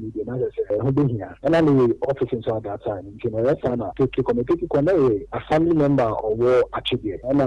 ne deɛ na ɛsɛ sɛ ɛho bɛhia. Ɛna ne yɛɛ office nso at that time nti na ɛyɛ saa na Pete kɔ. Me Pete kɔ na ɛyɛ assembly member a ɔwɔ Atwe deɛ. Ɛna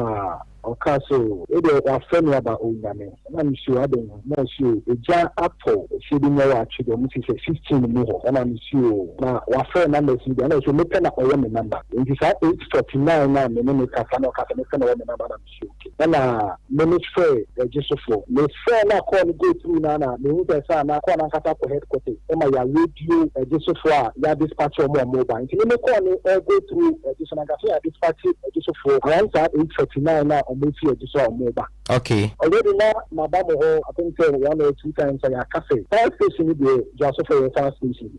ɔkaa sɛ oo wei deɛ wɔafrɛ me aba Onyame. Ɛna me se oo adɛn o? Ɛna ɔse oo egya atɔ efie bi mu ɛwɔ Atwe deɛ ɔmo se sɛ sixteen mu hɔ. Ɛna me se oo na wɔafrɛ numbers yi deɛ ɛna ɔse mepɛ na ɔwɔ me number. Nti saa eight forty nine no a me ne no kasa na ɔkaa sɛ mepɛ na ɔwɔ me number na me. nsuo. Ɛna me me frɛɛ Ɛgye so foɔ. Me frɛɛ no a call no go through no ara na me hu sɛ saa na call no ankasa kɔ headquarters ɛma yɛ radio Ɛgye so foɔ a yɛ a dispatch wɔn a wɔn ba. Nti me me call no ɛgo through Ɛgye so no ankasa yɛ a dispatch Ɛgye so foɔ around saa eight forty nine no a wɔn ɛfiri Ɛgye so a wɔn reba. Okay. Already na maba mo hɔ I think sɛ one or two times a yɛ aka sɛ fire station no deɛ Dwaso foɔ yɛ fire station.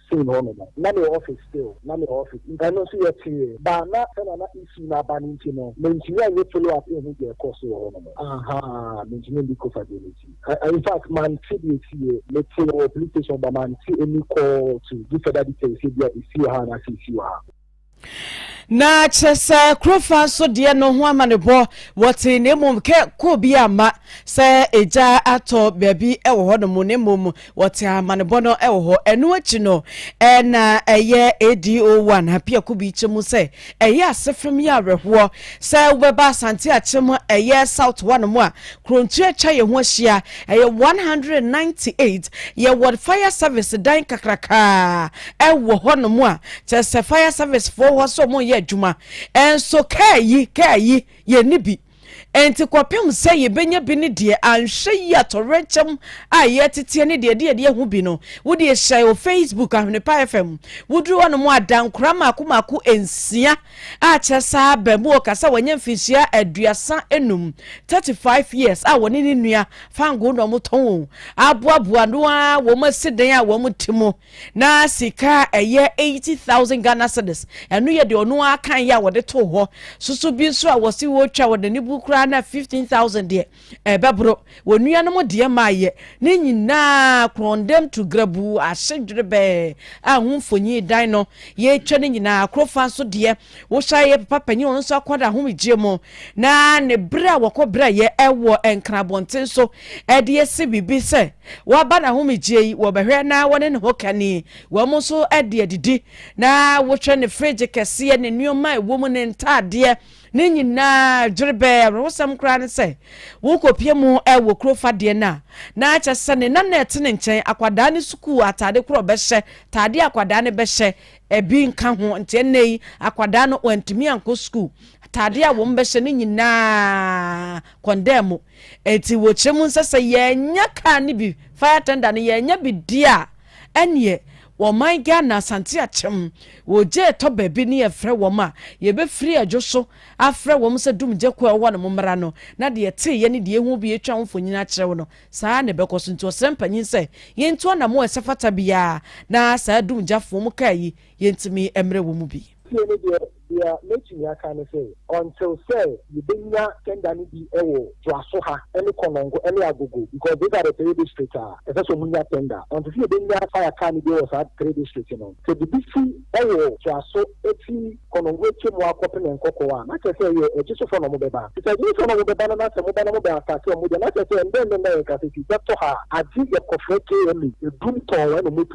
Same hɔ no no na mewɔ office still na mewɔ office nti ɛno nso yɛtee but na sɛnea na issue no aba no nti no mentumi anyɛ follow up nhu deɛ ɛkɔɔ so wɔ hɔ nom ahaa mentumi ndi Kofa deɛ no nti I infact mante deɛ ɛsiiɛ metee wɔ police station but mante ɛni call to give further details sɛ ebia ɛsi wɔ ha anaasɛ ɛsi wɔ ha. Na kyerɛ sɛ Kurofaa nso deɛ no ho amanebɔ wɔtee na mmom kɛ kɔɔ bi amma sɛ egya atɔ baabi wɔ hɔ nom na mmom wɔte amanebɔ no wɔ hɔ. Ɛno akyi no na ɛyɛ ADO1 Apiako bi kyɛ mu sɛ ɛyɛ asefem yɛ awerɛhoɔ sɛ wobɛba Asante akyem ɛyɛ South hɔ nom a Kronkyerɛ atwa yɛn ho ahyia, ɛyɛ one hundred and ninety eight, yɛwɔ fire service dan kakraka ɛwɔ hɔ nom a kyerɛ sɛ fire service foɔ wɔ hɔ sɛ wɔn yɛ adwuma ɛnso kaa yi kaa yi yɛn ni bi ɛnti kɔpem sɛ yɛbɛnya bi ne deɛ anhwɛ yi atɔwerɛnkyɛm a yɛteteɛ ne deɛ deɛ deɛ ho bi no wode hyɛ o Facebook ahwenepa fm woduru hɔ nom a dankora mako mako nsia Akyɛ saa abamuo ka sɛ wanya mfinhyia aduasa enum, 35 years, a wɔne ne nua fangoo na wɔtɔn wɔn aboaboa no ara wɔn asi dan a wɔn te mu. Na sika a ɛyɛ 80,000 Ghana cedis, ɛno yɛ deɛ ɔno ara kaeɛ a wɔde too hɔ, soso bi nso a wɔse wɔtwa wɔn ani bu koraa na 15,000 deɛ, ɛbɛboro, wɔ nuanom deɛ maayɛ, ne nyinaa korɔndɛm tu grabuu ahye dwerebɛɛ a ho mfonyin dan no yɛretwa ne nyinaa akoro fa nso deɛ wohyɛ yɛ papa panyin ɔno nso akɔ n'ahomegyeɛ mu na ne berɛ a wɔkɔ berɛ yɛ ɛwɔ nkran abɔnten so ɛde asi biribi sɛ waba n'ahomegyeɛ yi wɔbɛhwɛ na wɔne ne ho kani wɔn nso ɛde adidi na wohwɛ ne fridge kɛseɛ ne nneɛma ɛwɔ mu ne ntaadeɛ Ne nyinaa dwerebɛɛ awerɛhosɛm koraa ne sɛ worekɔpia mu wɔ kuro fa deɛ no a, na kyerɛ sɛ ne nana a ɛte ne nkyɛn akwadaa no sukuu atade korɔ ɔbɛhyɛ, tadeɛ a akwadaa no bɛhyɛ, ɛbi nka ho. Nti ɛnnɛ yi akwadaa no wantumi ankɔ sukuu. Atadeɛ a wɔn bɛhyɛ no nyinaa kɔndaa mu. Nti wɔkyerɛ mu sɛ sɛ yɛannya kaa no bi, fire tender no, yɛannya bi di a, ɛnneɛ Wɔ ɔman Ghana Asante Akyem wɔ gya ɛtɔ baabi ne yɛfrɛ wɔm a yɛbɛfiri adwo so afrɛ wɔm sɛ dumgya kuo a ɛwɔ hɔ nom mmra no na deɛ yɛteeɛ ne deɛ yɛhuu bi yɛtwa ho mfonyin akyerɛ wo no saa ara na ɛbɛkɔ so nti ɔsrɛ mpanyin sɛ yɛntu anamɔ a ɛsɛfata biara na saa dumgyafoɔ mu kaa yi yɛntumi mmrɛ wɔn mu bi. Deɛ mɛtumi aka ne sɛ, until sɛ yɛbɛnya tender no bi wɔ Joaso ha ne Konongo ne Agogo because those are the three district a ɛsɛ sɛ wɔnya tender. Until sɛ yɛbɛnya fire car no bi wɔ saa three district no, sɛ biribi si wɔ Joaso firi Konongo atwa mu akɔ Pene Nkɔkɔɔ a, na kyerɛ sɛ ɛyɛ Agyesufoɔ na wɔbɛba. Nti sɛ Agyesufoɔ na wɔbɛba no na sɛ moba na mobɛ attacke wɔn deɛ, na kyerɛ sɛ ɛnnɛ nnɛ nnɛ a yɛkasa yi, bɛtɔ ha a, agye yɛkɔfrɛ KMA, Adum Tɔn, ɛna wɔbɛtu.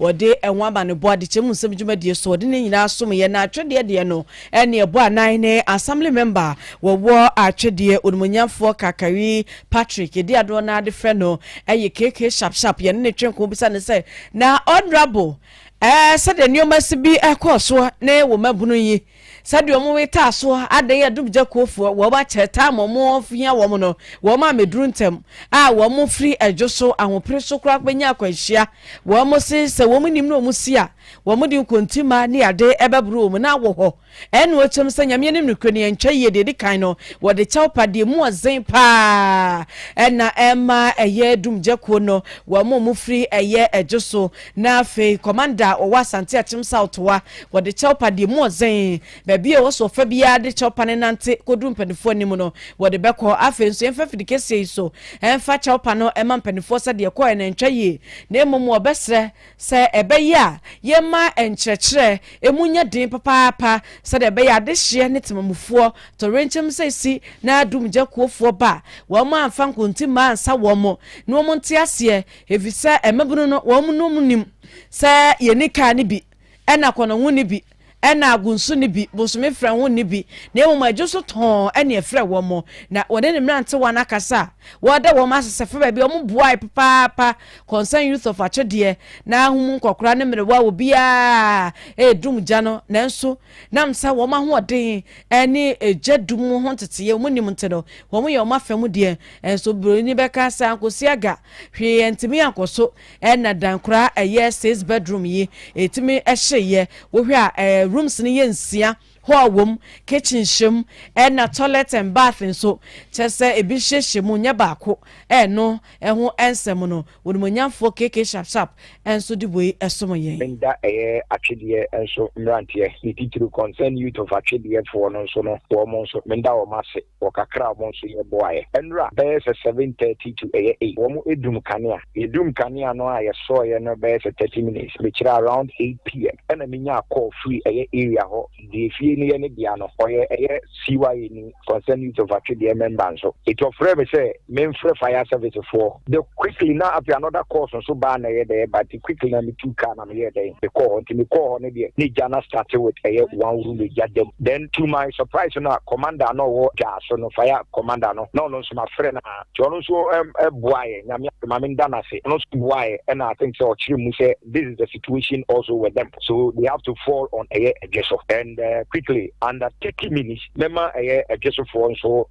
Wɔde ɛho amanebɔ adekyɛmu nsɛm dwumadie so ɔde ne nyinaa someeɛ na atwedeɛ deɛ no ne ɛbɔ anan ne Assembly Member wɔwɔ atwedeɛ onimuonyamfoɔ Kakari Patrick yɛdi adoɔ no ara de frɛ no yɛ KK Sharp Sharp yɛne no twe nko bisa no sɛ na Honourable ɛɛ sɛdeɛ nneɛma si bi ɛkɔɔ soɔ ne wo mmabunu yi Sɛdeɛ wɔn wetaa so adan adumgyakuofoɔ, wɔn akyɛ taa ma wɔn hia wɔn no, wɔn a meduru ntɛm a wɔn firi ɛdwo so ahopere so koraa bɛnya akwanhyia, wɔn se sɛ wɔn nnim na wɔn si a, wɔn de nkontimma ne ade bɛboro wɔn na awɔ hɔ. Ɛnna wɔkyɛm sɛ, Nyame anim nokorɛ ni, ɛnkyɛ yie, deɛ ɛdi kan no, wɔde kyɛw pa deɛ emu ɔden pa ara na ɛma ɛyɛ adumgyakuo no, wɔn a wɔfiri ɛyɛ ɛdwo so, Na afei kɔmanda a ɔwɔ Asante Akyem South wa, wɔde kyɛwpa deɛ mu ɔdzen. Baabi a ɛwɔ so ɔfa biara de kyɛwpa no nante kɔduru mpanimfoɔ anim no, wɔde bɛkɔ. Afei nso yɛmfa afidi kɛseɛ yi so mfa kyɛwpa no mma mpanimfoɔ sɛdeɛ ɛkɔɔɛ no antwa yie, na mmom wɔbɛsrɛ sɛ ɛbɛyɛ a yɛmma nkyerɛkyerɛ mu nyɛ den papaapa sɛdeɛ ɛbɛyɛ a adehyeɛ ne temamufoɔ torenkyɛm sɛ ɛsi na dumgya kuofoɔ ba a, wɔamfa nkontimmaa ansa wɔn na wɔnte aseɛ Efisɛ mmabunu no, wɔnom nim sɛ yenni kan no bi, ɛna kɔnɔ ho nni bi, ɛna ago nso nni bi, bosome frɛ ho nni bi, na mmom adwo so tɔnn na ɛfrɛ wɔn. Na wɔne ne mmerantewa no akasa a, wɔda wɔn ase sɛ fa baabi a wɔboae papaapa, Concerned Youth of Akyedeɛ, na ho mu nkɔkora ne mmerewa wɔ biara redum gya no, nanso nam sɛ wɔn ahoɔden ne gya dum ho nteteeɛ a wɔnim nti no, wɔyɛ wɔn afa mu deɛ. Nanso oburoni bɛka sɛ, Ankɔsi aga, Hwee antumi ankɔ so na dan koraa a ɛyɛ six bedroom yi ɛtumi hyeeɛ. Wohwɛ a eh, rooms no yɛ nsia, hall wom, kitchen hyɛ mu ɛna toilet and bath nso. Kyerɛ sɛ ebi hyehyɛ mu nyɛ baako. Ɛno ho nsɛm no, Onimuonyamfoɔ KK Sharp Sharp nso de wei som yɛn. Meda ɛyɛ atwedeɛ nso mmeranteɛ, ne titiriw Concerned Youth of Atwedeɛfoɔ no nso no, wɔn nso meda wɔn ase. wɔ kakra a wɔn nso yɛ boaeɛ. Ɛnora bɛyɛ sɛ seven thirty to ɛyɛ eight wɔn dum kanea. Yɛ dum kanea no a yɛ sɔɔeɛ no bɛyɛ sɛ thirty minutes. Me kyerɛ around eight pm ɛna me nyaa call firi ɛyɛ area hɔ deɛ fie no yɛ ne dea no ɔyɛ ɛyɛ CYA ni, Concerned Youth of Atwedeɛ member nso. Enti ɔfrɛɛ me sɛ me nfrɛ fire service foɔ. The quickly na afei another calls nso baa na ɛyɛ dɛ but quickly na me tuu car na. meyɛɛ dɛn mekɔɔ hɔ nti mekɔɔ hɔ no deɛ ne gya no starte with ɛyɛ one room gya dam then to my surprise no a commander na ɔwɔ gyaa so no fire commander no na ɔno nso mafrɛ no a nti ɔno nso boaeɛ nyame ma menda no ase ɔno nso boaeɛ ɛna I think sɛ ɔkyerɛ mu sɛ this is the situation also with them so they have to fall on ɛyɛ adwe so and uh, quickly under 30 minutes Mɛma ɛyɛ Ɛgyesofoɔ nso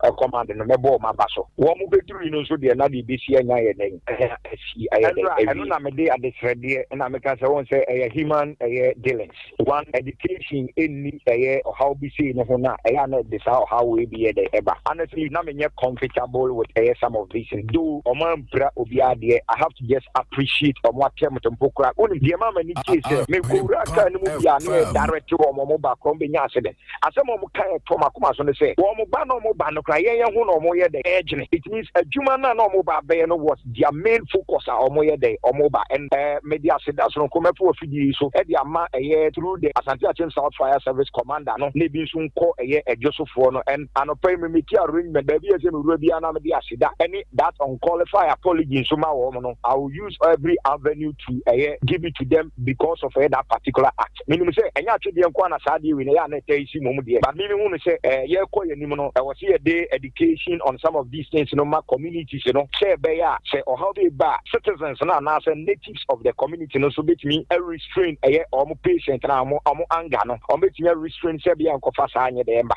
a kɔmande no mɛbɔ wɔn aba so. Wɔn bɛduruui no nso deɛ na deɛ ɛbɛsi anya yɛ dɛn? Anya asi ayɛ dɛn awie? Ɛno na mede adesrɛdeɛ na meka sɛ wɔn sɛ ɛyɛ human ɛyɛ dealings. One education nni ɛyɛ ɔhaw bi sei no ho na ɛyɛ a na ɛde saa ɔhaw wei bi yɛ dɛn ɛba. Honestly na menyɛ comfortable with ɛyɛ some of these things though wɔn ampira obiara deɛ I have to just appreciate wɔn attempt mpo koraa. Wonim deɛ ɛmaa m'ani gyee sɛ mekɔwuraa car no mu bi a na yɛ direct wɔn wɔn ba korɔ wɔn bɛnya ase dɛ. Asɛm a wɔka a ɛtɔ m'akoma so ne sɛ, wɔn ba na wɔba no koraa, yɛn yɛn ho na wɔyɛ dɛn ɛredwene. It means adwuma no a na wɔba abɛyɛ no was their main focus a wɔyɛ dɛn wɔba. And eh, mede aseda sononko mɛto afidie yi so de ama ɛyɛ through the Asante Akyem South Fire Service Commander no na ebi nso nkɔ ɛyɛ adwosofoɔ no. And anɔpa yi memeki arrangement, baabi a ɛsɛ mewura biara na mede aseda ne that unqualified apology nso ma wɔn no. I will use every avenue to ɛyɛ give it to them because of ɛyɛ that particular act. Menim sɛ ɛnyɛ atwedeɛ nko ara na saa adeɛ wei no ɛyɛ a na ɛtaa yi si mmom deɛ, but me mehu no sɛ ɛɛ yɛrekɔ yɛn anim no ɛwɔ sɛ yɛde education on some of these things no ma communities no sɛ ɛbɛyɛ a sɛ ɔhaw bi reba a citizens no anaasɛ natives of the community no nso bɛtumi a restrain ɛyɛ wɔn patient no a wɔn wɔn anger no wɔn bɛtumi a restrain sɛ bia nkɔfa saa nyɛ dɛɛ mma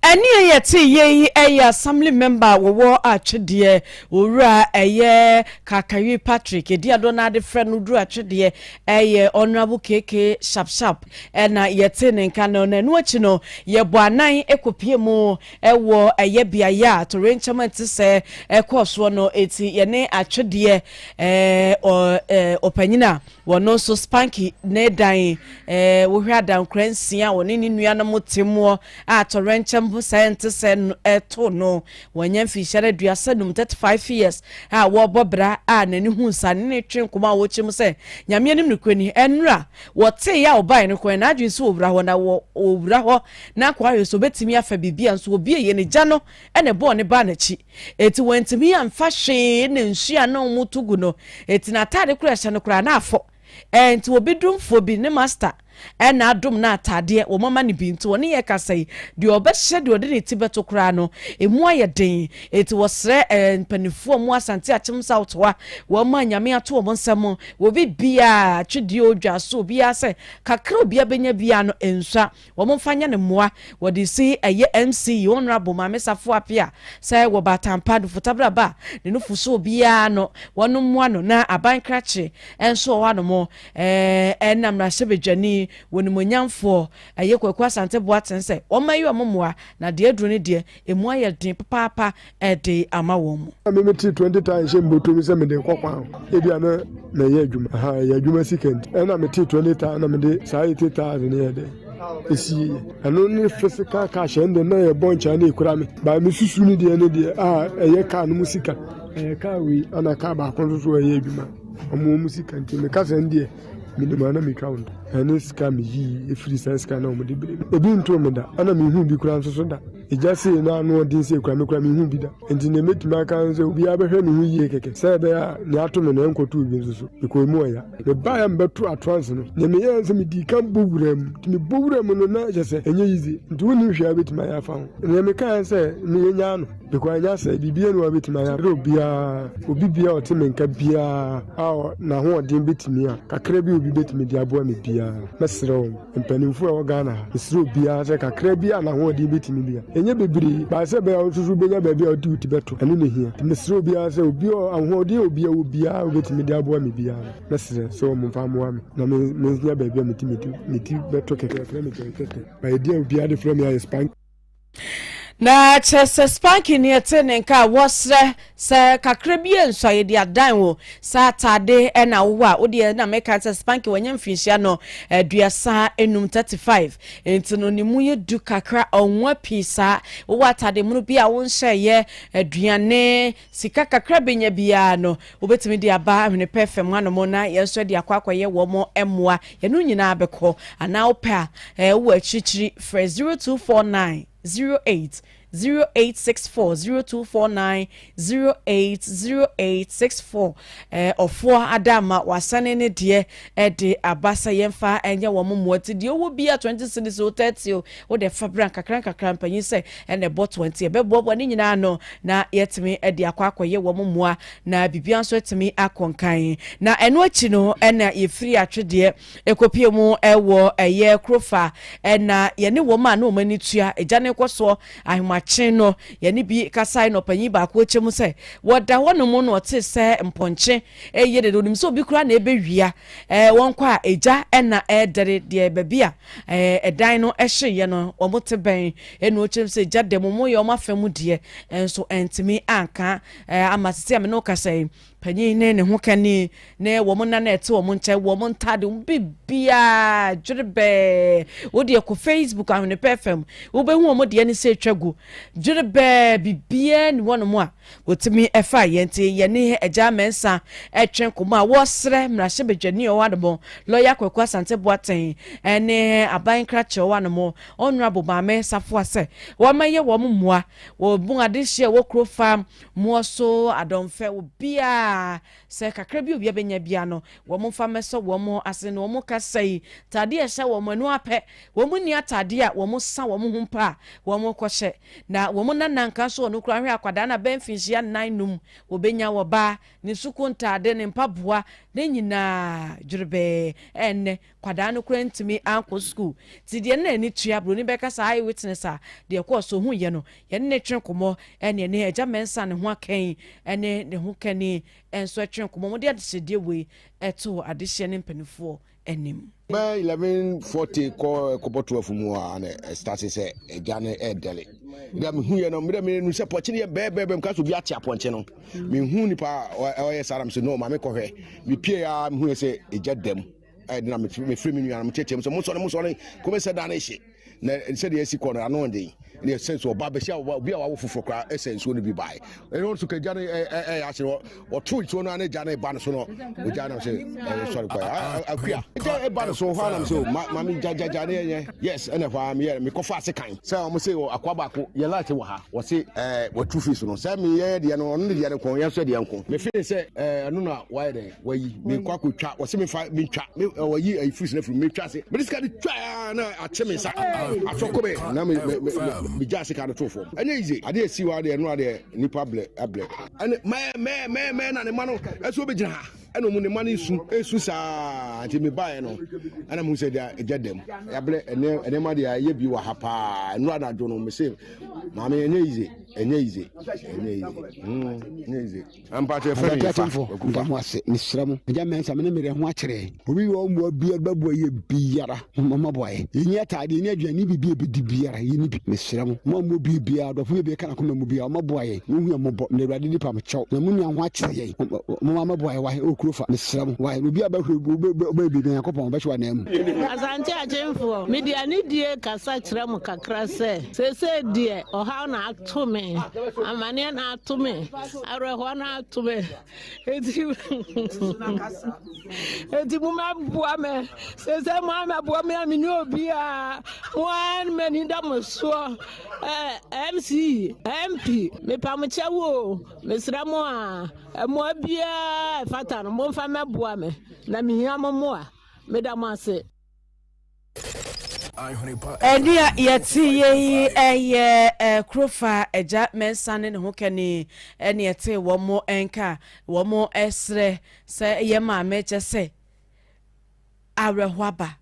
Ɛne a yɛtee yei yi ɛyɛ Assembly Member a wɔwɔ Atwedeɛ, Owura ɛyɛ Kakawi Patrick, edin a dodoɔ no ara de frɛ no duru Atwedeɛ ɛyɛ Honourable KK Sharp Sharp ɛna yɛtee ne nka no. Na ɛno akyi no yɛbɔ anan kɔpie mu ɛwɔ ɛyɛ beaeɛ a torenkyɛm nte sɛ ɛkɔɔ soɔ no. Enti yɛne Atwedeɛ ɛɛ ɔ ɛɛ ɔpanyin a Wɔno nso Spanky ne dan eh, wohwɛ adankora nsia wɔne ne nuanom te moɔ a tɔrɛnkyɛm ho sɛɛ nte sɛ no ɛto no. Wɔanya mfinhyia no aduasa num, 35 years, a wɔrebɔ bra a n'ani hu nsa ne ne twe nkɔmɔ a wɔkyɛ mu sɛ Nyame anim no korɛ ni. Ɛnora wɔtee yɛ a wɔbaeɛ no kɔɛ, n'adwene nso wɔ wura hɔ na wɔ wura hɔ na akɔ ahwɛ sɛ ɔbɛtumi afa biribi a nso wɔbieeɛ no gya no na ɛbɔɔ ne baa n'akyi. Enti wantumi amfa hwee na nsu a na wɔto gu no, enti n'atade koro a ɛhyɛ no koraa na afɔ. Enti obi domfoɔ bi, ne masta, na adom no atadeɛ, wɔama no bi. Nti ɔne yɛn kasa yi, deɛ ɔbɛhyɛ deɛ ɔde ne ti bɛto koraa no, ɛmu ayɛ den. Enti wɔsrɛ mpanimfoɔ a wɔwɔ Asante Akyem South hɔ a wɔama Nyame ato wɔn nsa mu, obi biara, atwedeɛ o, dwa so, obiara sɛ kakra a obiara bɛnya biara no, nsua. Wɔn nfa nyɛ no mmoa wɔ de si ɛyɛ MC Honourable Maame Safo Apia sɛ wɔ ba Atampa Dufutabra ba ne nufu so obiara no wɔn mmoa no na aban krakye nso wɔ hɔ anom ɛɛ na mmarahyɛ badwani wɔ nimonyamfoɔ ɛyɛ Kwaku Asante Boaten sɛ wɔn mma yi wɔn mmoa na deɛ aduro no deɛ ɛmu ayɛ den papaapa de ama wɔn mu. Na me me te twenty taa nhyɛ mboto mi sɛ me de kɔ kwan ho ebi a na mɛ yɛ adwuma ahaa ɛyɛ adwuma sika nti ɛna me te twenty taa na me de saa eighty taas ne yɛ dɛ esi yɛ yɛ ɛno ne physical cash ɛn de na yɛ bɔ nkyɛn na ekura me baa me susu ne deɛ ne deɛ a ɛyɛ kaa no mu sika ɛyɛ kaa wei ana kaa baako nso so ɛyɛ adwuma ɔmo ɔmo sika nti me kasa ne deɛ me nim ana me twa wɔn ɛne sika me yi efiri saa sika na ɔmo de bere ebi nto me da ɛna me hu bi kura nso so da. Egya sei no ano ɔden sei koraa, me koraa menhuu bi da. Enti nea mɛtumi aka ne sɛ obiara bɛhwɛ ne ho yie kɛkɛ sɛ ɛbɛyɛ a nea ato me no ɛnkɔto obi nso so. Mekɔɔ mu ɔya. Mebaeɛ a mebɛtoo atrance no, nea meyɛɛ ne sɛ medii kan bɔ wuraa mu. Nti mebɔ wuraa mu no na kyerɛ sɛ ɛnyɛ yize. Nti wonnim hwee a wobɛtumi ayɛ afa ho. Nea mekaeɛ ne sɛ me yɛnyaa no. Because ɛnyɛ asɛe, biribiara nni hɔ a wobɛtumi ayɛ abrɛ obiara. Obi biara a ɔte me nka biara a ɔ, n'ahoɔden bɛtumi a, kakra bi a obi bɛtumi de aboa me biara, mɛsrɛ wɔn. Mpaninfoɔ a ɛwɔ Ghana ha ɛsrɛ obiara sɛ kakra bi a n'ahoɔden bɛtumi bia ɛnyɛ bebree but sɛ ɛbɛyɛ a wo nso so wobɛnya baabi a wode wo ti bɛto ɛno na ɛhia nti mesrɛ obiara sɛ obi a ahoɔden a obi wɔ biara a ɔbɛtumi de aboa me biara no mɛsrɛ sɛ wɔn mfa mmoa me na menya baabi a mɛtumi de me ti bɛto kɛkɛ yɛfrɛ me kɛkɛ but ɛdeɛ a obiara de frɛ me ayɛ span Na kyerɛ sɛ spanking ni ɛte ne nka a wɔsrɛ sɛ kakra bi yɛ nsua yɛde adan wo saa ataade ɛna wowɔ a wodeɛ na meka sɛ spanking wɔnyɛ mfinhyia no aduasa enum 35 nti no ne mu yɛ du kakra ɔnwa pii saa wowɔ ataade mono bi a wonhyɛ yɛ aduane Sika kakra a benya biara no, wobetumi de aba Ahwene Pɛ fam hanom na yɛn nso de akɔ akɔyɛ wɔn mmoa. Yɛne wo nyinaa bɛkɔ. Anaa wopɛ a, wowɔ akyirikyiri, frɛ 0249 08 0864, 0249 08 0864. Ɔfoɔ Adaama, w'asane ne deɛ de aba sɛ yɛmfa nyɛ wɔn mmoa. Nti deɛ wowɔ biara, 20 cedis o, 30 o, Wode fa bra nkakrankakra mpanyin sɛ ɛna ɛbɔ toa nti yɛbɛboaboa ne nyinaa ano na yɛatumi de akɔ akɔyɛ wɔn mmoa na biribiara nso atumi akɔ nkan. Na ɛno akyi no na yɛfiri Atwedeɛ kɔpue mu wɔ ɛyɛ Kurofa na yɛne wɔn a na wɔn ani tua gya no rekɔ soɔ Ahomakye no yɛne bi kasae na ɔpanyin baako kyɛ mu sɛ wɔda hɔnom na ɔtee sɛ mpɔnkye reyɛ dede, ɔnim sɛ obi koraa na ɛrebɛwia wɔn kɔ a gya na ɛredɛre deɛ baabi a Ɛɛ dan no ɛhye yɛ no ɔmo te bɛn ɛna ɔkyerɛm sɛ gya dɛm ɔmo yɛ ɔmo afɛ mu deɛ nso ɛntumi anka ɛɛ ama sisi a me ne wo kasa yi panyin ne ne ho kani ne wɔn nna na ɛte wɔn nkyɛn wɔn ntaade wɔn bibiaa dwere bɛɛ wo deɛ kɔ facebook ahwenepɛ fam wobɛhu wɔn deɛ ne sɛ atwa gu dwere bɛɛ bibiaa ni wɔn mo a Wotumi faa yɛn nti yɛne Agya Mensah retwe nkɔmmɔ a wɔresrɛ mmarahyɛbadwani a ɔwɔ ano mo, Lɔya Kwaku Asante Boateng ne aban nkrakyɛ a ɔwɔ ano mo, Honourable Maame Safoa sɛ wɔmmɛyɛ wɔn mmoa wɔ mu adenhyia a ɛwɔ kuro fa moɔ so adɔmfɛ wɔ biara sɛ kakra bi a obiara bɛnya biara no wɔn mfa mmɛsɔ wɔn asene na wɔn ka sɛi ntaadeɛ a ɛhyɛ wɔn no ara pɛ wɔn nni ataadeɛ a wɔn sa wɔn ho mpo a wɔn kɔhyɛ. Na wɔ mo nana nka so ɔno koraa hwɛ akwadaa no abɛn mfinhyia nnan num ɔbɛnya wɔ baa ne sukuu ntaade ne mpaboa ne nyinaa dwerebɛɛ ɛnnɛ kwadaa no koraa ntumi ankɔ sukuu nti deɛ ne n'ani tua broni bɛka saa eye witness a deɛ ɛkɔɔ so ɔhuiɛ no yɛne ne twe nkɔmmɔ ɛne ɛne agya mɛnsa ne ho akɛn ɛne ne ho kani nso ɛtwe nkɔmmɔ mo de adehyedeɛ wei ɛto adehyeɛ ne mpanifoɔ anim. Bɛyɛ eleven forty kɔ ɛkɔbɔ twelve mu a na ɛsitase sɛ ɛgya no ɛɛdɛle bia mi hu yɛ no mmerɛ mi nu sɛ pɔkye no yɛ bɛɛbɛɛbɛ mu kaso bi ate apɔnkye no mi hu nipa ɔyɛ saa na mi sɛ no maame kɔhwɛ mi pie ya mi hu yɛ sɛ ɛgya dɛm ɛdina mi firi mi nua no mi kyɛkyɛ mu sɛ mo sɔre mo sɔre kɔmɛ sɛ dan ne hye. na sɛdeɛ asi kɔ no ano ɔden ne ɛsɛ so ɔba bɛsi obi a wawo foforɔ koraa ɛsɛ nsuo no bi bae ɛno nso ka gya no ɛyɛ ase no ɔto nsuo no ne gya no ba no so no ogya no sɛ sɔre kɔ akua gya ɛba no so hɔ anam sɛ mame gyagyagya ne ɛnyɛ yes ɛna hɔ a meyɛ mekɔfa ase kan sɛ ɔmo sɛ akoa baako yɛ light wɔ ha wɔse watu fi so no sɛ meyɛ deɛ no ɔno ne deɛ no kɔn yɛ nso deɛ nko mefee sɛ ɛno na wayɛ dɛn wayi mekɔ akɔtwa ɔsɛ mefa metwa ɔyi ayi fruits no afiri metwa ase mede sika de twa ah, na akye me nsa afɔkɔ me na megya sika no too fam ɛnyɛ yize adeɛ asi hɔ adeɛ ɛno adeɛ nnipa blɛ ablɛ ɛne mɛmɛmɛmɛ na ne ma no ɛso wobɛgyina ha ɛna ɔmu ne ma no nsu ɛsu saa nti mebaeɛ no ɛna mu sɛ deɛ ɛgya dam yɛablɛ ɛnɛma deɛ ɛyɛ bi wɔ ha paa ɛno anadwo no mese maame ɛnyɛ yize ɛnyɛ yize ɛnyɛ yize ɛnyɛ yize Ampa kyerɛ fɛ ne fa kwaku fa. Medamowase mesrɛ mo agya mɛnsa mene merɛ ho akyerɛ obi wɔ mmoa biara bɛboa yɛ biara momma moaboa yɛ yɛni ataadeɛ yɛni aduane ne biribi ɛbɛdi biara yɛni bi mesrɛ mo mo a mo bie biara dɔfo bie bɛka nakoma mu biara ɔma boa yɛ mo hu yɛ mɔbɔ mede awurade di pam kyɛw na mo nua ho akyerɛ yɛ momma ma boa yɛ wae ɛwɔ kuro fa mesrɛ mo wae obi a bɛhwɛ ɔbɛyɛ biribi nyankopɔn ɔbɛhyɛ wa nan mu. Asante Akyemfoɔ, mede anidie kasa kyerɛ mo kakra sɛ, seesei deɛ ɔhaw na ato me, amaneɛ na ato me, Awerɛhoɔ no ato me. Eti eti mo ma boa me. Sese mo a ma boa me a me ni obi a mo a ma ni da mo soɔ. Ɛɛ MC MP me pa mo kyɛ wo. Mesrɛ mo a ɛmoa biara ɛfata no mo nfa mɛ boa me na me hia mo moa. Me da mo ase. Ɛnea yɛte yɛ yi yɛ kurofa agya mɛnsa ne ne ho kɛne ɛne ɛte wɔn nka wɔn ɛsrɛ sɛ yɛ maame kyɛ sɛ awerɛho aba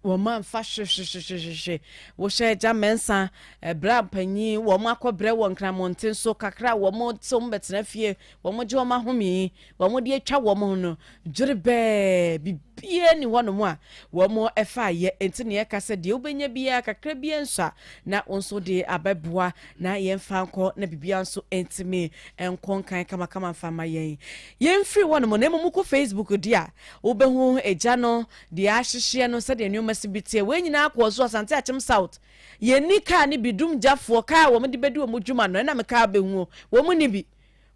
wɔn amfa hwehwehwehwehwehwe wohyɛ agya mɛnsa ɛbrɛ mpanyin wɔn akɔbrɛ wɔ nkramonten so kakra wɔn te wɔn bɛtena fie wɔn gye wɔn ahome Wɔn deɛ atwa wɔn ho no dwerebɛɛ, biribiara nni hɔnom a wɔfaeɛ. Enti na yɛka sɛ, Deɛ wobɛnya biara, kakra biara nso a, na wo nso de abɛboa, na yɛmfa nkɔ, na biribiara nso ntumi nkɔ nkan kamakama mfa mma yɛn. Yɛmfiri hɔnom, na mmom wokɔ Facebook deɛ a, wobɛhu egya no, deɛ ahyehyɛ no, sɛdeɛ nneɛma si bi teɛ. Wei nyinaa kɔɔ so Asante Akyem South. Yɛnni kaa no bi, dumgyafoɔ, kaa a wɔde bɛdi wɔn dwuma no, ɛnna me kaa bɛhu o, wɔnni bi.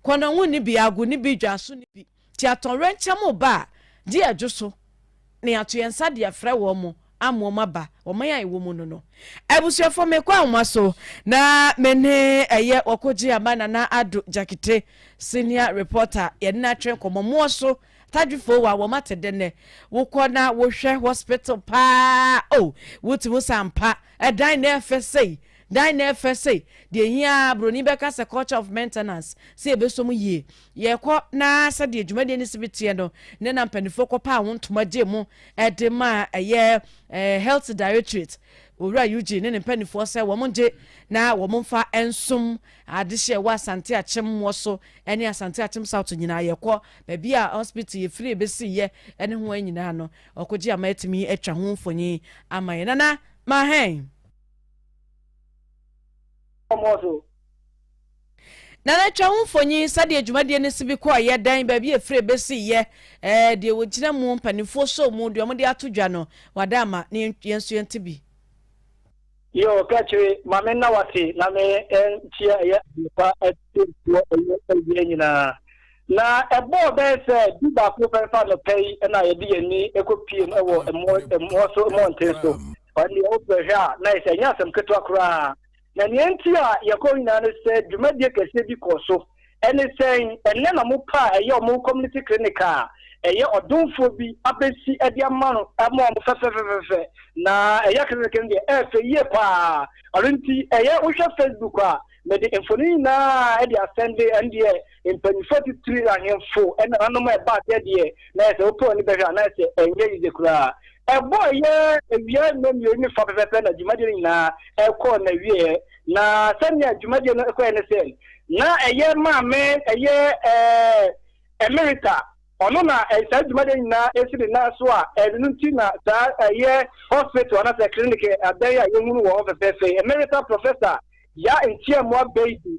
Kɔnɔnwu ne bi, ago ne bi, dwaso ne bi, nti atɔwrɛnkyɛm reba a, gye yɛn dwo so na yɛato yɛn nsa de afrɛ wɔn ama wɔn aba ɔman a yɛwɔ mu no no. Abusuafoɔ mekɔ ahoma so na me ne ɛyɛ Wɔkogye Aba Nana Addo Gyakete Senior Reporter yɛne no atwe nkɔmmɔ. Moɔ so Tadwifoo wa wɔn ate dɛ nnɛ? Wokɔ na wohwɛ hospital paa oh, wote mu sɛ ampa ɛdan na ɛfɛ sei Dan na ɛfɛ sei, deɛ ɛhia ara broni bɛka sɛ culture of maintenance, sɛ yɛbɛsɔ mu yie. Yɛkɔ na sɛdeɛ dwumadie no si bi teɛ no, nnɛ na mpanimfoɔ kɔpaa ho ntoma gyee mu de maa ɛyɛ Health Directorate, Owura Eugene ne ne mpanimfoɔ sɛ wɔn ngye na wɔn mfa nsom adehyeɛ ɛwɔ Asante Akyem Moɔ so ne Asante Akyem South nyinaa. Yɛkɔ baabi a hospital yɛfirie bɛsiiɛ ne ho a nyinaa no, ɔkɔgye ama atumi atwa ho mfonin ama yɛn. Nana Mahɛn. Ɔmɔ so. Nana twa ho mfonyin sɛdeɛ dwumadie no si bi kɔɔ yɛ, dɛn, baabi a ɛfiri ɛbɛsi yɛ, ɛɛ deɛ wɔgyina mu, mpanimfoɔ soo mu, deɛ wɔde ato dwa no, wada ama na yɛn yɛn nso yɛnte bi. Yoo ka kyere ma me na wate na me nkyia ɛyɛ adepa atiefoɔ ɛyɛ awia nyinaa. Na ɛbɔɔ bɛyɛ sɛ du baako pɛ fa anɔpɛ yi na yɛde yɛn ani ɛkɔ piem ɛwɔ ɛmɔ ɛmɔ so mmɔnten so. Ɔno deɛ wopɛ hwɛ a na ayɛ sɛ ɛnyɛ asɛm ketewa koraa. Na nea enti a yɛkɔ hɔ nyinaa ne sɛ dwumadie kɛseɛ bi kɔɔ so. Ɛne sɛn? Ɛnnɛ na wɔn pɛ a ɛyɛ wɔn community clinic a ɛyɛ ɔdomfoɔ bi abɛsi de ama no ama wɔn fɛfɛfɛfɛfɛ. Na ɛyɛ clinic no deɛ ɛyɛ fɛ yie pa ara. Ɔno nti ɛyɛ wohwɛ Facebook a mede mfonin nyinaa de asɛnde ɛndeɛ. Mpanyimfo atitiriw, ahemfo, ne nananom a ɛbaa sɛ deɛ na ɛyɛ sɛ wopɛ w'ani bɛhwɛ a, na ɛsɛ ɛnyɛ yiye koraa. Ɛbɔ a ɛyɛ awia nnɔnmienu ne fã pɛpɛɛpɛ na dwumadie no nyinaa ɛkɔɔ n'awieɛ. Na sɛnea dwumadie no kɔeɛ ne sɛ, na ɛyɛ maame ɛyɛ ɛɛ Emerita, ɔno na saa dwumadie no nyinaa si ne nan so a ɛno nti na saa ɛyɛ hospital anaasɛ clinic adan a yɛhunu wɔ hɔ fɛfɛɛfɛ yi, Emerita Professor Yaa Ntiamoa Baidoo.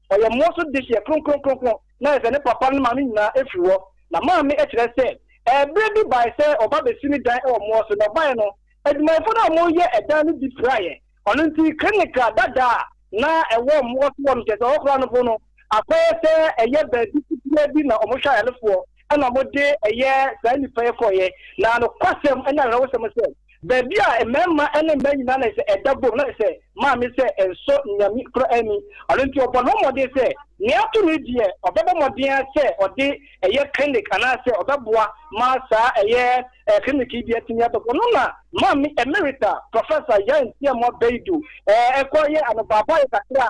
Ɔyɛ mmoa so dehyeɛ kronkron kronkron, na ayɛ sɛ ne papa ne maame nyinaa afiri hɔ. Na maame kyerɛ sɛ, Ɛberɛ bi baeɛ sɛ ɔba bɛsi ne dan wɔ mmoa so, na ɔbaeɛ no, adwumayɛfoɔ no a wɔreyɛ ɛdan no bi piraeɛ. Ɔno nti, klinik dada a na ɛwɔ mmoa so hɔ no, kyerɛ sɛ ɔkora no po no, akɔyɛ sɛ ɛyɛ baabi ketewa bi na wɔhwɛ ayarefoɔ, ɛnna wɔde ɛyɛɛ saa nnipa yi kɔeɛ. Na nokwasɛm ne awerɛhosɛm sɛ, Baabi a mmarima ne mmaa nyinaa na ɛsɛ sɛ ɛda bom, na ɛsɛ sɛ maame sɛ ɛnsɔ Nyame koro ani. Ɔno nti ɔbɔ ne ho mmɔden sɛ nea ato no deɛ ɔbɛbɔ mmɔden ara sɛ ɔde ɛyɛ clinic anaasɛ ɔbɛboa ma saa ɛyɛ clinic yi de atumi abɛkɔ. Ɔno na Maame Emerita Professor Yaye Nsiamoah Baidu kɔ yɛ anobaabaeɛ kakra.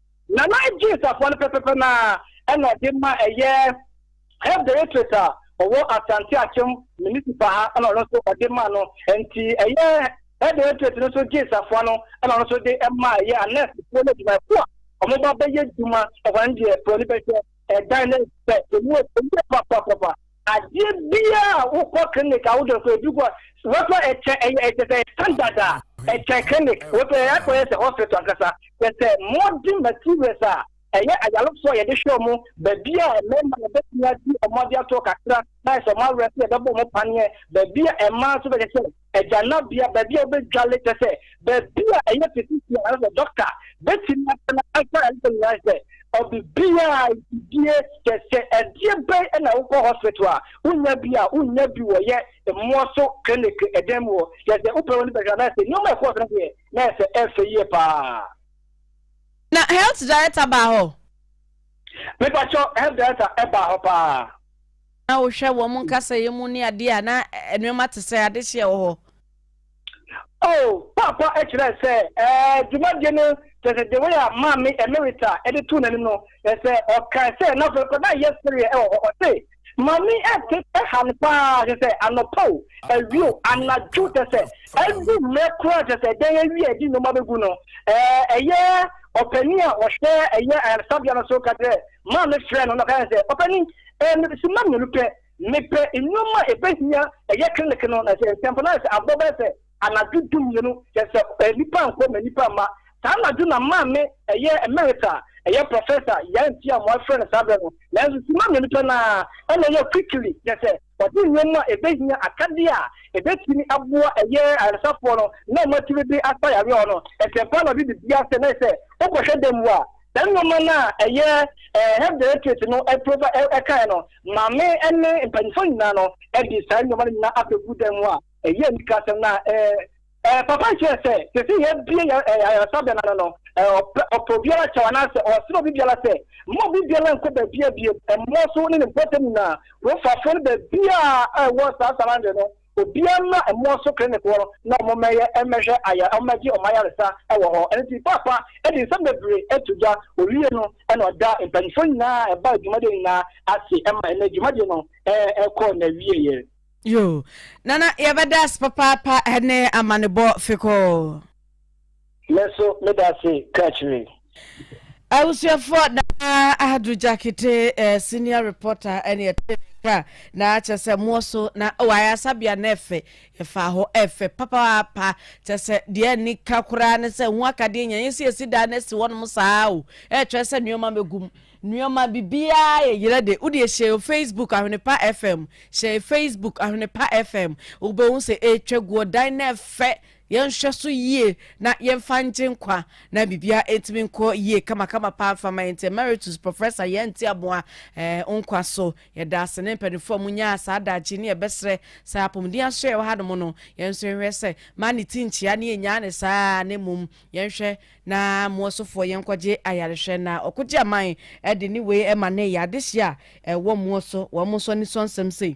Nana Adjei safoa no pɛpɛpɛ no ara na ɔde ma ɛyɛ Health Directorate a ɔwɔ Asante Akyem Municipal ha na ɔno nso ɔde ma no. Nti ɛyɛ Health Directorate no nso gyee safoa no na ɔno nso de ma ɛyɛ anɛɛsefoɔ ne adwumayɛfoɔ a wɔba bɛyɛ adwuma. Ɛhɔ no deɛ broni bɛhwɛ ɛdan no sɛ ɛmu yɛ papapapa. Adeɛ biara a wokɔ clinic a wode kɔ ebi kɔ wɔtɔ ɛkyɛ ɛyɛ ɛkyɛ sɛ standard a ɛkyɛ clinic wɔtɔ ɛyɛ akɔ yɛ sɛ hospital ankasa kyɛ sɛ modern materials a ɛyɛ ayarefoɔ a yɛde hwɛ wɔn baabi a mmarima na bɛtumi adi wɔn ade ato kakra na ayɛ sɛ wɔn awerɛ sɛ yɛbɛbɔ wɔn paneɛ baabi a mmaa nso bɛkyɛ sɛ Agyanabea, baabi a wobɛdwale, kyerɛ sɛ, baabi a ɛyɛ physician anaasɛ sɛ dɔkta bɛtumi atena ansa na ɛsɛ nyinaa sɛ ɔbibiaa gyidie sɛ sɛ ɛdeɛ bɛn na wokɔ hospital a wonya bi a wonya bi wɔ yɛ mmoa so clinic ɛdan mu hɔ kyerɛ sɛ wopɛ w'ani bɛhwɛ anaasɛ nneɛma ɛkɔɔ so no deɛ na ɛsɛ ɛfɛ yie paa. Na health director baa hɔ? Mepakyɛw, health director baa hɔ paa. Na wohwɛ wɔn nkasɛeɛ mu ne adeɛ a, na nnoɔma te sɛ adehyeɛ wɔ hɔ. Oh, Paapa kyerɛɛ sɛ, ɛɛ, dwumadie no, kyerɛ sɛ, the way a Maame Emerita de too n'anim no, kyerɛ sɛ, ɔkae sɛ, na afei kora na ayɛ sereɛ wɔ hɔ. Ɔse, Maame ɛte ha no paa, kyerɛ sɛ, anɔpa o, awia o, anadwo, kyerɛ sɛ, adu mmerɛ koraa, kyerɛ sɛ, dan awie a yɛde nnoɔma bɛgu no, ɛɛ, ɛyɛ ɔpanin a ɔhwɛ ɛyɛ ayaresabea no so ka kyerɛɛ Maame frɛɛ no na ɔkae no sɛ, Papa ni, ɛɛ mepɛ simma mmienu pɛ. Mepɛ nnoɔma a ɛbɛhia ɛyɛ clinic no, na sɛ ntɛmpa no ayɛ sɛ abɔ bɛyɛ sɛ anadwo du mmienu, kyerɛ sɛ ɛɛ nnipa nkɔ ma nnipa mma. Saa anadwo na maame ɛyɛ Emerita, ɛyɛ Professor, Yaa nti a moafrɛ no saa berɛ no, nanso simma mmienu pɛ no ara ɛna ɛyɛ quickly, kyerɛ sɛ ɔde nnoɔma a ɛbɛhia, akadeɛ a ɛbɛtumi aboa ɛyɛ ayaresafoɔ no na wɔatumi de asa yareɛ hɔ no, ntɛmpa na ɔde biribiara sɛ na ayɛ sɛ wokɔhwɛ dan mu a, Saa nnoɔma no a ɛyɛ Health Directorate no kaeɛ no, maame ne mpaninfoɔ nyinaa no de saa nnoɔma no nyinaa abɛgu dan mu a ɛyɛ anika asɛm no a papa no kyerɛɛ sɛ sɛsei yɛabue ayaresabea no ano no, ɔpɛ obiara kyɛw anaa sɛ ɔsrɛ obi biara sɛ mma obi biara nkɔ baabiara bio, mmorɔso ne ne mpɔtam nyinaa, kurofafoɔ no baabiara a ɛwɔ saa surrounding no. Obiara mmra mmoa so klinikoɔ no na wɔmmɛyɛ mmɛhwɛ ayare wɔmmɛgye wɔn ayaresa wɔ hɔ. Ɛno nti Paapa de nsɛm bebree to dwa. Ɔwie no na ɔda mpaninfoɔ nyinaa a ɛbaa dwumadie nyinaa ase ma ɛnɛ dwumadie no kɔɔ n'awieɛ. Yoo Nana yɛbɛda ase papaapa ɛne amanebɔ fekɔɔ. Me nso meda ase ka akyire. Abusuafoɔ Nana Ahadru Gyakete eh, senior reporter ɛne ɛte ne nka na kyɛ sɛ moɔ so na oh, ayasabea na ɛfɛ yɛfaa hɔ ɛfɛ papaapa kyɛ sɛ deɛ ni ka koraa ne sɛ ho akadeɛ nya yɛsi yɛsi daa na asi hɔnom saa o ɛkyerɛ sɛ nneɛma mɛgum nneɛma bibiaa yɛ yerɛ de wodeɛ hyɛ yɛ Facebook Ahwenepa FM hyɛ yɛ Facebook Ahwenepa FM wobɛhu sɛ ɛtwa guɔ dan na ɛfɛ Yɛnhwɛ so yie na yɛmfa ngye nkwa. Na biribiara ntumi nkɔ yie kamakama paa mfa mma yɛnte Emeritus Professor Yaa Ntiaboa eh nkwa so. Yɛda ase ne mpaninfoɔ a monyaa saa daakye ne yɛbɛsrɛ sɛ apomuden aso a ɛwɔ hanom no yɛnso yɛnhwɛ sɛ mmaa ne ti nkyea ne yɛnnyaa no saa ara na mmom yɛnhwɛ na moa sofoɔ yɛnkɔgye ayarehwɛ na ɔkogye aman de ne wei ma no ɛyɛ adehyeɛ a ɛwɔ moa so wɔn nso anisɔ nsɛm sei.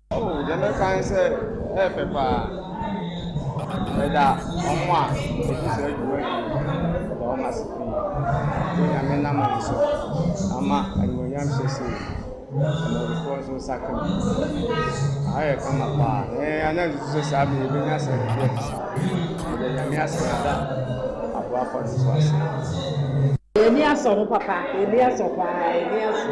Oh yɛbɛka ne sɛ ɛyɛ pɛ paa. Ɛda ɔmo a ɛdi saa dwuma yi ɛda ɔmo ase pii. Ɛdi nyame nam ɔmo so ama animonyam hyɛ se amanyɔfoɔ nso nsa ka mu. Aha yɛ kama paa. Ɛɛ ana nsusu sɛ saa bɛ yɛbɛnya asɛnhwɛ te saa. Ɛda nyame ase na ɛda aboafoɔ no nso ase. Yɛn ani asɔ ho papa, yɛn ani asɔ paa, yɛn ani asɔ.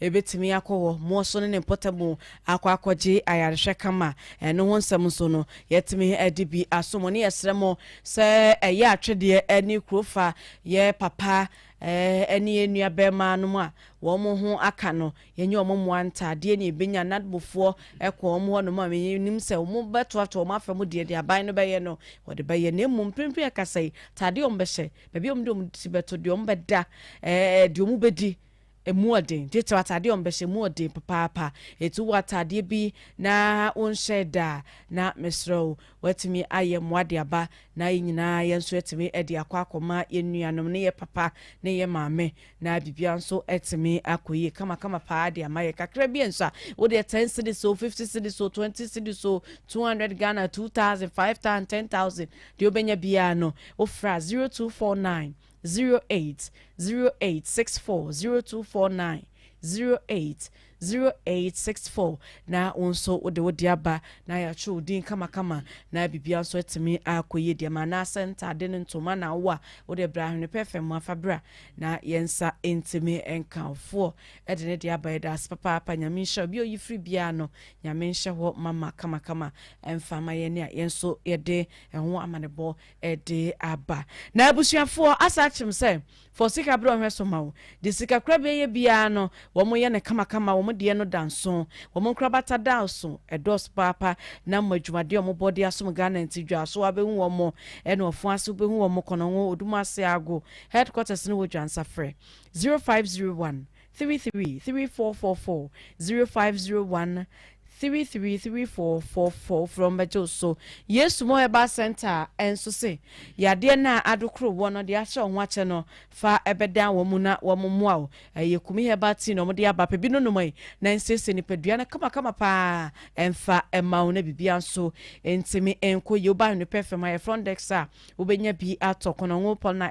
Ebetumi akɔ hɔ ma ɔso ne ne mpɔtam akɔ akɔgye ayarehwɛ kama. Ɛno ho nsɛm nso no, yɛatumi de bi aso mo, ne yɛsrɛ mo sɛ ɛyɛ atwedeɛ ne kuro fa yɛ papa ne yɛn nuabarimaa nom a wɔn ho aka no, yɛnyɛ wɔn mmoa ntaadeɛ ne yɛbɛnya. Nadbofoɔ kɔ wɔn hɔ nom a, menim sɛ wɔbɛtoatoa wɔn afa mu deɛ deɛ aban no bɛyɛ no, wɔde bɛyɛ. Na mmom mprempren ɛkasa yi, ntaadeɛ a wɔbɛhyɛ, baabi a wɔde wɔn ti bɛto, deɛ wɔbɛda, deɛ wɔbɛdi, Ɛmu yɛ den. Gye kyɛw ataadeɛ a wɔbɛhyɛ mu yɛ den papaapa. Enti wowɔ ataadeɛ bi na wonhyɛɛ da a, na mesrɛ wo, woatumi ayɛ mmoa de aba na yɛn nyinaa yɛn nso atumi de akɔ akɔma yɛn nuanom ne yɛn papa ne yɛn maame na biribiara nso atumi akɔ yie kamakama paa de ama yɛn. Kakra bi nso a, wo deɛ ten cedis o, fifty cedis o, twenty cedis o, two hundred Ghana, two thousand, five thousand, ten thousand, deɛ wobɛnya biara no, wofrɛ a zero two four nine zero eight zero eight six four zero two four nine zero eight zero eight six four na wo nso wode wo de aba na yɛatwerɛ wo din kamakama na biribiara nso atumi akɔ yie deɛ ma anaasɛ ntaade no ntoma na wo a wode bra ahwene pɛ fam mu afa bra na yɛn nsa ntumi nkamfoɔ de ne de aba yɛda ase papaapa nyame nhyɛ obi oyi firi biara no nyame nhyɛ hɔ mama kamakama ɛmfa ma yɛn a yɛn nso yɛde ɛho amanebɔ de aba. Na abusuafoɔ asa akyerem sɛ fa osika berɛ ɔhwɛ so ma wo. Deɛ sikakorabea yɛ biara no wɔn yɛ no kamakama, wɔn deɛ no da nso. Wɔn nkorabata daaso, ɛdɔɔso paapa. Na wɔn adwumadeɛ a wɔn bɔ de asom Ghana nti dwaaso wabɛhu wɔn, ɛne ɔfon ase wobɛhu wɔn, Konongo, Odumase Ago, Headquarters no wɔ Dwansafrɛ, 0501 three three three four four four zero five zero one three three three four four four frɛ wɔn bɛgye wo so yesu mo herbal center nso se yadeɛ no a adokoro woɔ no deɛ akyerɛ wo ho akyɛ no fa ɛbɛdan wɔn mu na wɔn mmoa wo ɛyɛ kumi herbal tea na wɔn de aba pɛ bi no nom yi na nsiesie nipadua no kamakama paa ɛmfa ɛma wo na biribiara nso ntumi nkɔ yie woba ahwene pɛ fam ha yɛ front desk a wobɛnya bi atɔ kɔnɔngo pɔl na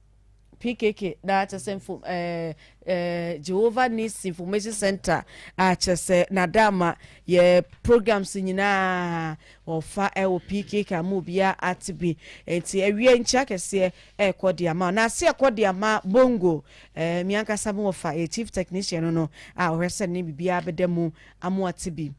PKK na kyerɛ sɛ mfom ɛɛ ɛɛ Jehovah Needs Information Center a kyerɛ sɛ n'adaama yɛ programs nyinaa wɔfa ɛwɔ PKK ama obiara ate bi nti awie nkyia kɛseɛ ɛrekɔ de ama na ase ɛkɔ de ama bongo ɛɛ mi ankasa mo wɔfa yɛ chief technician no no a ɔhwɛ sɛ ne biribiara bɛda mu amoate bi.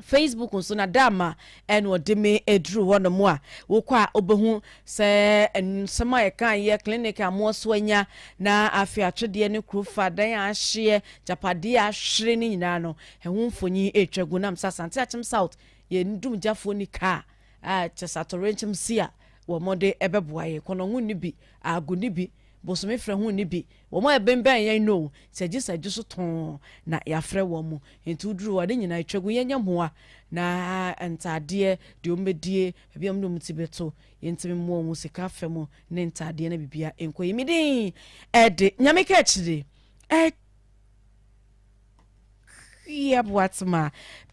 Facebook nso na dama ɛna ɔde me aduru hɔ nom a wokɔ a wobɛhu sɛ nsɛm a yɛkaeɛ clinic a moɔso anya na afei atwedeɛ ne kuro fa dan a ahyeɛ gyapadeɛ a ahwere no nyinaa no ɛho mfonyi ɛtwa gu nam sɛ Asante Akyem South yɛn dumgyafoɔ ni kaa a kyɛ sɛ atɔwrɛnkyɛm si a wɔn de ɛbɛboa yɛn kɔnɔngo ni bi ago ni bi bosome frɛ ho ni bi Wɔn a ɛbenbɛn yɛn no o, sɛ gye sɛ gye so tɔnn na yɛafrɛ wɔn mo. Enti woduru hɔ a, ne nyinaa yɛtwa gu. Yɛnyɛ mmoa na ntadeɛ, deɛ wɔbɛdie, baabi a wɔde wɔn ti bɛto, yɛntumi mmoa wɔn mu sika afa mu ne ntadeɛ na biribiara nkɔ yie. Me din de Nyame Kaakyire, Akyia Boatema.